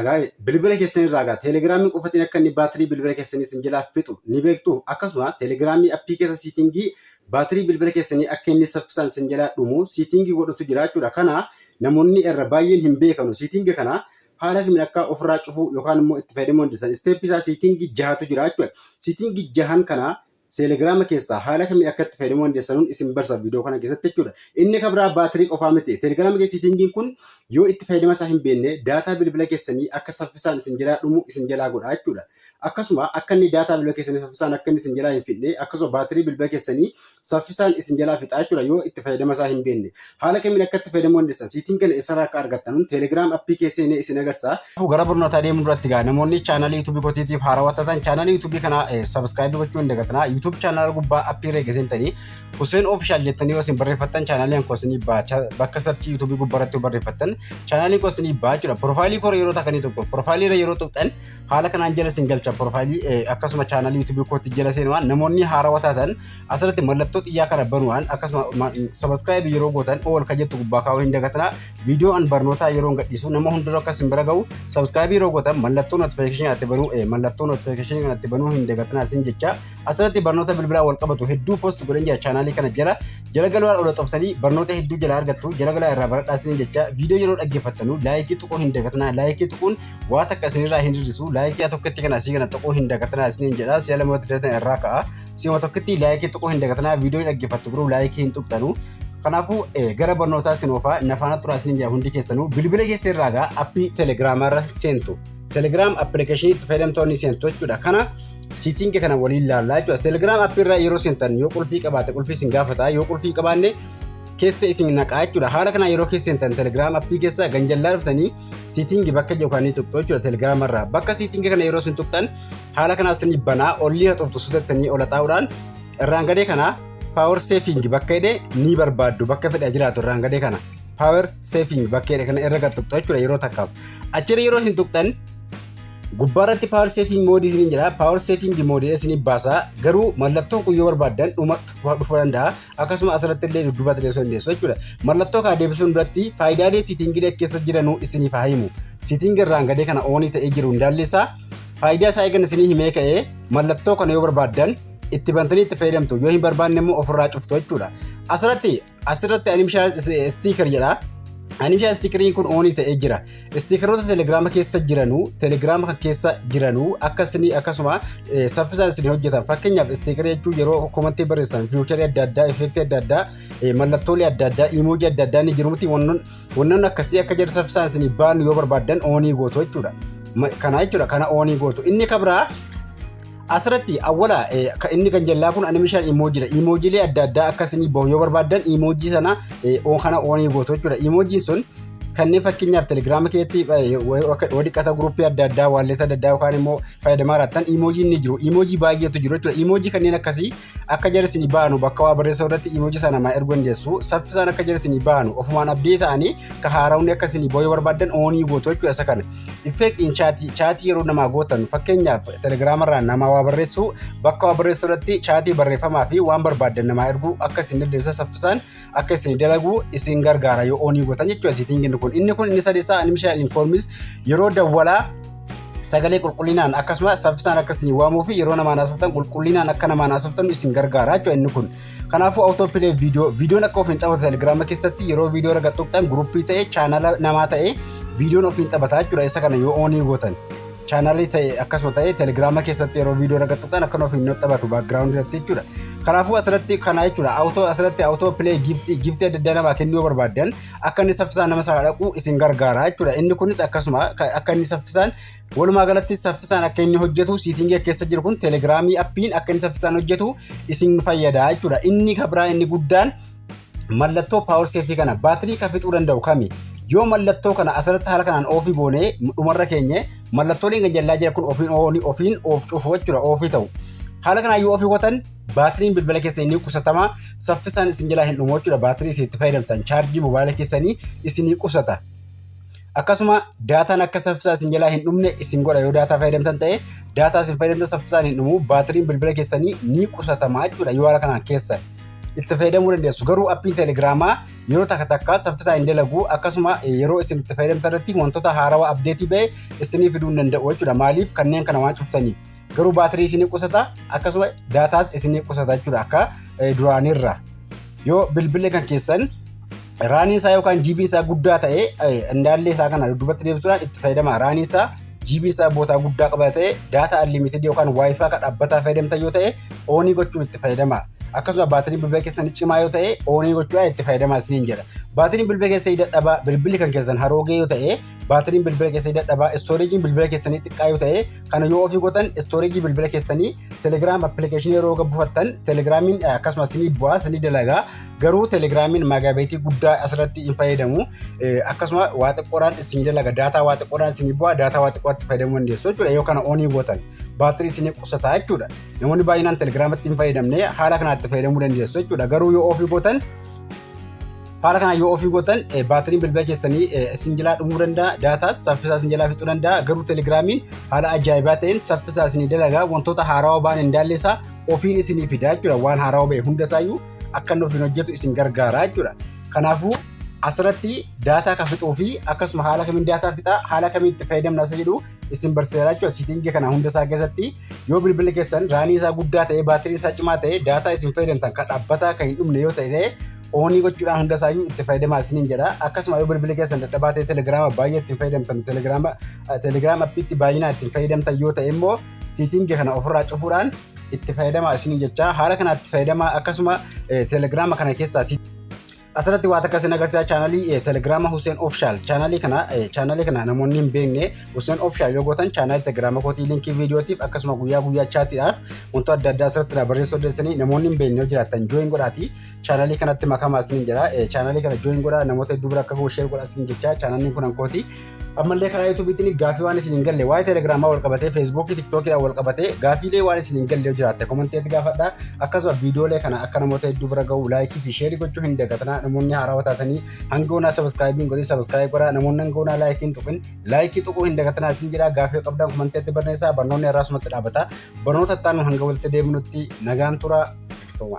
Egaa bilbila keessan irraa egaa teelegiraamii qofatiin akka inni baatirii bilbila keessanii isin jalaa fixu ni beektu akkasuma teelegiraamii appii keessa siitingii baatirii bilbila keessanii akka inni saffisaan isin jalaa dhumu siitingii godhutu jira jechuudha kana namoonni irra baay'een hin beekanu siitingii kana haala kamiin akka ofirraa cufuu yookaan immoo itti fayyadamuu dandeessan isteeppii isaa siitingii jahatu jira jechuudha siitingii jahan kana Telegram keessaa haala kamiin akka itti fayyadamuu dandeessanun isin barsa viidiyoo kana keessatti jechuudha. Inni kan biraa baatirii qofaa miti. Telegram kee siitingiin kun yoo itti fayyadama isaa hin beekne daataa bilbila keessanii akka saffisaan isin jalaa dhumu isin jalaa godha jechuudha. Akkasuma akka inni daataa bilbila keessanii saffisaan akka inni isin jalaa hin fixne akkasuma baatirii bilbila keessanii saffisaan isin jalaa fixaa jechuudha yoo itti fayyadama isaa hin beekne. Haala kamiin akka itti fayyadamuu dandeessan siitiin kana eessarraa akka argattan Telegram appii kee seenee isin agarsiisa. Gara barnootaa deemuu duratti gaa namoonni chaanalii YouTube kootiitiif haarawaa taatan chaanalii YouTube kana subscribe gochuu hin dagatinaa. YouTube chaanala gubbaa appii irra geessintanii Hussein Official jettanii yoo isin barreeffattan chaanaliin koo isinii ba'a. Bakka sarchii YouTube gubbaa irratti yoo barreeffattan chaanaliin koo isinii ba'a jechuudha. Profaayilii koo yeroo takanii tokko profaayilii irra yeroo tuqxan haala kanaan jala isin galcha profaayilii akkasuma chaanalii YouTube kootti jala seenuwaan namoonni haarawaa taatan asirratti mallattoo xiyyaa kana banuudhaan akkasuma sabaskiraayib yeroo gootan ool kan jettu gubbaa kaa'uu hin dagatina viidiyoo an barnootaa yeroo gadhiisu nama hundura akkas hin bira ga'u sabaskiraayib yeroo gootan mallattoo notifikashinii ati banuu mallattoo notifikashinii kan ati banuu hin dagatina asin jecha asirratti barnoota bilbilaa wal qabatu hedduu post godhan jira chaanaalii kana jala jala galaa ola xoftanii barnoota hedduu jala argattu jala galaa irraa baradhaa isin jecha viidiyoo yeroo dhaggeeffattanu laayikii tuquu hin dagatina laayikii tuquun waa takka isinirraa hin hir'isu laayikii tokkotti kana asii kana tuquu hin dagatina isin jedha si'a lamatti datan irraa ka'a Si'uma tokkotti laayikii tuquu hin dagatinaa viidiyoo dhaggeeffattu garuu laayikii hin tuqxanu. Kanaafuu gara barnootaa isin oofaa nafaana turaa isin jira hundi keessanuu bilbila keessa irraa gaa appii telegiraamaa irra seentu. Telegiraam appilikeeshinii itti fayyadamtoonni seentu jechuudha. Kana siitingi kana waliin laallaa jechuudha. Telegiraam appii irraa yeroo seentan yoo qulfii qabaate qulfii isin gaafata yoo qulfii qabaanne keessa isin naqaa jechuudha. Haala kanaan yeroo keessa seentan telegiraam appii keessa ganjallaa dhuftanii siitingi bakka yookaan tuqxu jechuudha telegiraama irraa. Bakka siitingi kana yeroo isin tuqxan haala kanaas ni banaa ollii haxoftu sutettanii ola taa'uudhaan irraan gadee kana power saving bakka hidhe ni barbaaddu bakka fedha jiraatu irraan gadee kana power saving bakka hidhe kana irra gad tuqxu jechuudha yeroo takkaaf achirra yeroo isin tuqxan gubbaarratti power saving mode isin jira power saving mode isin baasa garuu mallattoon kun yoo barbaaddan dhuma dhufuu danda'a akkasuma asirratti illee dudduuba teessoo dandeessu jechuudha mallattoo kana deebisuun duratti faayidaalee siitingilee keessa jiranuu isiniif haa himu siitingi irraan gadee kana oonii ta'ee jiru hundaalleessaa Faayidaa isaa eegan isinii himee ka'ee mallattoo kana yoo barbaaddan itti bantanii itti fayyadamtu yoo hin barbaanne immoo ofirraa cuftu jechuudha. Asirratti asirratti animishaa stiikar jedha. Animishaa stiikariin kun oonii ta'ee jira. Stiikaroota telegiraama keessa jiranu telegiraama kan keessa jiranu akka isinii akkasuma saffisaan isin hojjetan fakkeenyaaf stiikarii jechuun yeroo komantii barreessitan fiicharii adda addaa effeektii adda addaa mallattoolee adda addaa iimoojii adda addaa ni jiru miti Wannoon akkasii akka jedhu saffisaan isin baanu yoo barbaaddan oonii gootu jechuudha. Kana jechuudha kana oonii gootu. Inni kan biraa asirratti awwala inni kan jallaa kun animishaan imoojiidha. Imoojiilee adda addaa akka isin bahu yoo barbaaddan imoojii sana kana oonii gootu jechuudha. Imoojiin sun kanneen fakkeenyaaf telegiraama keessatti yoo dhiqata guruppii adda addaa waalleessa adda addaa yookaan immoo fayyadamaa jiraattan imoojiin ni jiru. Imoojii baay'eetu jiru jechuudha. Imoojii kanneen akkasii Akka jara isinii baanu bakka waa barreessu irratti iimoojii sana namaa erguu dandeessu. Saffisaan akka jara isinii baanu ofumaan abdii ta'anii ka haaraawni akka isinii booyee barbaaddan oonii gootu jechuudha isa kana. Effeektiin chaatii chaatii yeroo namaa gootan fakkeenyaaf telegiraamarraa namaa waa barreessu bakka waa barreessu irratti chaatii barreeffamaa fi waan barbaaddan namaa erguu akka isin dandeessan saffisaan akka isin dalagu isin gargaara yoo oonii gootan jechuudha siitiingiin kun inni kun inni sadisaa animishaal infoormis yeroo dawwalaa sagalee qulqullinaan akkasumas saffisaan akka isin waamuu fi yeroo namaan haasoftan qulqullinaan akka namaan haasoftan isin gargaara jechuudha inni kun. Kanaafuu awutoopilee viidiyoo viidiyoon akka ofiin taphatu telegiraama keessatti yeroo viidiyoo irra tuqxan guruppii ta'e chaanala namaa ta'e viidiyoon ofiin taphataa jechuudha isa kana yoo oonii gootan. chaanalii ta'e akkasuma ta'e telegiraama keessatti yeroo viidiyoo irra tuqxan akka nuuf hin noxxabatu baakgiraawundi irratti jechuudha. Kanaafuu asirratti kana jechuudha awutoo asirratti awutoo pilee giiftii giiftii adda addaa namaa kennuu barbaaddan akka inni saffisaan nama sana dhaqu isin gargaara jechuudha. Inni kunis akkasuma akka inni saffisaan walumaa galatti saffisaan akka inni hojjetu siitingii keessa jiru kun telegiraamii appiin akka inni saffisaan hojjetu isin fayyada jechuudha. Inni kabiraan inni guddaan mallattoo power safe kana baatirii kan fixuu danda'u kami yoo mallattoo kana asirratti haala kanaan oofii goonee dhumarra keenye mallattooleen kan jallaa jira kun ofiin ooni ofiin oof cufu jechuudha oofii ta'u haala kanaan yoo ofii gotan baatiriin bilbila keessa inni qusatama saffisaan isin jalaa hin dhumu jechuudha baatirii isin itti fayyadamtan chaarjii mobaayila keessanii isinii qusata Akkasuma daataan akka saffisaa isin jalaa hin dhumne isin godha yoo daataa fayyadamtan ta'e daataa isin fayyadamtan saffisaan hin dhumu baatiriin bilbila keessanii ni qusatama jechuudha yoo haala kanaan keessan. itti fayyadamuu dandeessu. Garuu appiin teelegiraamaa yeroo takka takka saffisaa hin dalagu akkasuma yeroo isin itti fayyadamtan irratti wantoota haarawaa abdeetii ba'e isinii fiduu hin danda'u jechuudha. Maaliif kanneen kana waan cuftaniif. garuu baatirii isinii qusata akkasuma daataas isinii qusata jechuudha akka duraanirra yoo bilbilli kan keessan raanii isaa yookaan jiibiin isaa guddaa ta'e indaallee isaa kana duubatti deebisuudhaan itti fayyadama raanii isaa jiibiin isaa bootaa guddaa qaba ta'e daataa unlimited yookaan waayifaa kan dhaabbataa fayyadamta yoo ta'e oonii gochuun itti fayyadama akkasuma baatiriin bilbila keessanii cimaa yoo ta'e oonii gochuudhaan itti fayyadamaa isiniin jedha baatiriin bilbila keessanii dadhabaa bilbilli kan keessan haroogee yoo ta'e baatiriin bilbila keessanii dadhabaa istooreejiin bilbila keessanii xiqqaa yoo ta'e kana yoo ofii gootan istooreejii bilbila keessanii telegiraam appilikeeshinii yeroo gabbufattan telegiraamiin akkasumas sinii bu'aa sinii dalagaa garuu telegiraamiin maagaabeetii guddaa asirratti hin fayyadamu akkasuma waa xiqqoodhaan isin dalaga daataa waa xiqqoodhaan isin bu'aa daataa waa xiqqootti fayyadamuu dandeessu jechuudha yoo kana onii gootan baatirii isin qusataa jechuudha namoonni baay'inaan telegiraamatti hin fayyadamne haala kanaatti fayyadamuu dandeessu jechuudha garuu yoo ofii gootan Haala kanaan yoo ofii gootan baatiriin bilbila keessanii isin jalaa dhumuu danda'a. Daataas saffisaa isin jalaa fixuu danda'a. Garuu telegiraamiin haala ajaa'ibaa ta'een saffisaa isin dalagaa wantoota haarawaa ba'an hin daalleessaa ofiin isinii fidaa jechuudha. Waan haarawaa ba'e hundasaayyuu akka inni ofiin hojjetu isin gargaara jechuudha. Kanaafuu asirratti daataa akka fixuu fi akkasuma haala kamiin daataa fixaa haala kamiin itti fayyadamna isa jedhu isin barsiisaa jechuudha. Siitingii kana hunda isaa keessatti yoo bilbilli keessan raanii isaa guddaa ta'e baatiriin isaa cimaa ta'e daataa isin fayyadamtan kan dhaabbataa kan hin dhumne yoo ta'e oonii gochuudhaan hunda isaayyuu itti fayyadamaa isiniin jedha. Akkasuma yoo bilbilli keessan dadhabaa ta'e telegiraama baay'ee ittiin fayyadamtan telegiraama telegiraama appiitti baay'inaa ittiin fayyadamtan yoo ta'e immoo siitingi kana ofirraa cufuudhaan itti fayyadamaa isiniin jecha haala kanaatti fayyadamaa akkasuma telegiraama kana keessaa asirratti waan akka isin agarsiisa chaanalii telegiraama Hussein Official chaanalii kana chaanalii kana namoonni hin beekne Hussein Official yoo gootan chaanalii telegiraama kootii linkii viidiyootiif akkasuma guyyaa guyyaa chaatiidhaaf wantoota adda addaa asirratti barreessuu dandeessanii namoonni hin beekne yoo jiraatan jooyin godhaatii chaanalii kanatti makamaa isiniin jedha. Chaanalii kana join godhaa namoota hedduu bira akka ga'u share godhaa isiniin jecha chaanaliin kun hankooti. Ammallee karaa yuutuubiitiin gaaffii waan isiniin galle waa'ee telegiraamaa wal qabatee feesbuukii tiktookiidhaan wal qabatee gaaffiilee waan isiniin galle yoo jiraatte komanteetti gaafadhaa. Akkasuma viidiyoolee kana akka namoota hedduu bira ga'u laayikii fi sheerii gochuu hin dagatinaa namoonni haarawaa taatanii hanga onaa sabiskiraayibiin godhin sabiskiraayib godhaa namoonni hanga onaa laayikiin tuqin laayikii tuquu hin dagatinaa isin jedhaa gaaffii qabdan komanteetti barreessaa barnoonni irraa sumatti dhaabata barnoota itti aanu hanga walitti deebinutti nagaan tura. Toma.